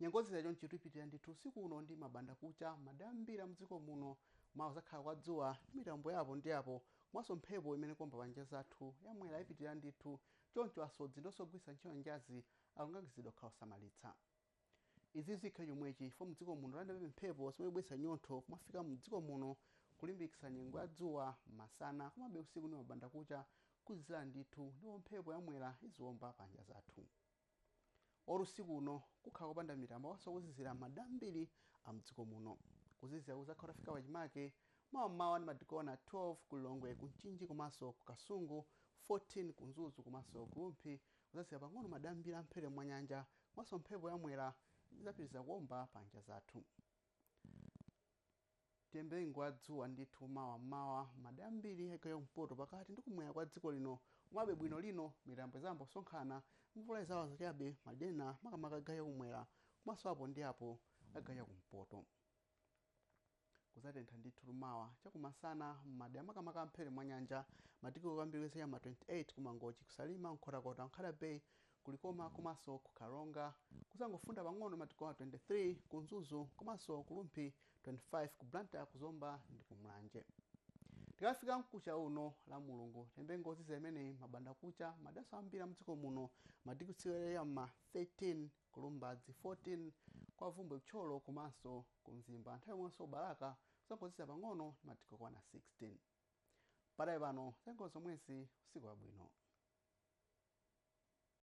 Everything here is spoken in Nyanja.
Nyengo yozizira chonchi ipitirira ndithu usiku uno ndi mabanda kucha mmadera ambiri a mdziko muno. Mawa kudzakhala kwa dzuwa ndi mitambo ya apo ndi apo komanso mphepo imene ikuomba pa nyanja zathu ya mwera ipitirira ndithu choncho asodzi ndi onse ogwiritsa ntchito nyanjazi akulangizidwa kukhala osamalitsa. Izi zikhale chomwechi chifukwa mdziko muno tilandirabe mphepo zomwe zikubweretsa nyontho kumafika mdziko muno kulimbikitsa nyengo ya dzuwa masana komabe usiku ndi mabanda kucha kuzizizira ndithu ndipo mphepo ya mwera iziomba pa nyanja zathu. Or usiku uno kukhala kopanda mitambo komanso kuzizira m'madera ambiri a m'dziko muno. Kuzizira kudzakhala kutafika pachimake mawa m'mawa ndi madigiri okwana 12 ku Lilongwe, ku Mchinji komanso ku Kasungu, 14 ku Mzuzu komanso ku Rumphi. Kudzazizira pang'ono m'madera ambiri a m'mphepete mwa nyanja komanso mphepo ya Mwera idzapitiriza kuomba pa nyanja zathu. Tiyembekezere nyengo ya dzuwa ndithu mawa mmawa mmadera ambiri a chigawo cha kumpoto pakati ndi kumwera kwa dziko lino komabe bwino lino mitambo izayamba kusonkhana mvula izawaza chabe madera ena makamaka a chigawo cha kumwera komanso apo ndi apo a chigawo cha kumpoto kuzatentha ndithu mawa chakumasana mmadera makamaka a mmphepete mwanyanja madigiri okwera kwambiri kuyembekezera ma 28 ku mangochi ku salima nkhotakota nkhata bay Ku Likoma komanso ku Karonga kuzangofunda pang'ono madigiri okwana 23 ku Mzuzu komanso ku Rumphi 25 ku Blantyre ku Zomba ndi ku Mulanje. Tikafika mkucha uno la Mulungu tiyembekezere nyengo yozizira imeneyi mabanda kucha mmaderanso ambiri a mdziko muno madigiri kutsikira ya mma 13 ku Lumbadzi 14 kwa Bvumbwe ku Thyolo komanso ku Mzimba nthawi yomwenso ku Balaka kuzangozizira pang'ono ndi madigiri okwana 16. Padakali pano zanyengo ndi zomwezi usiku wabwino.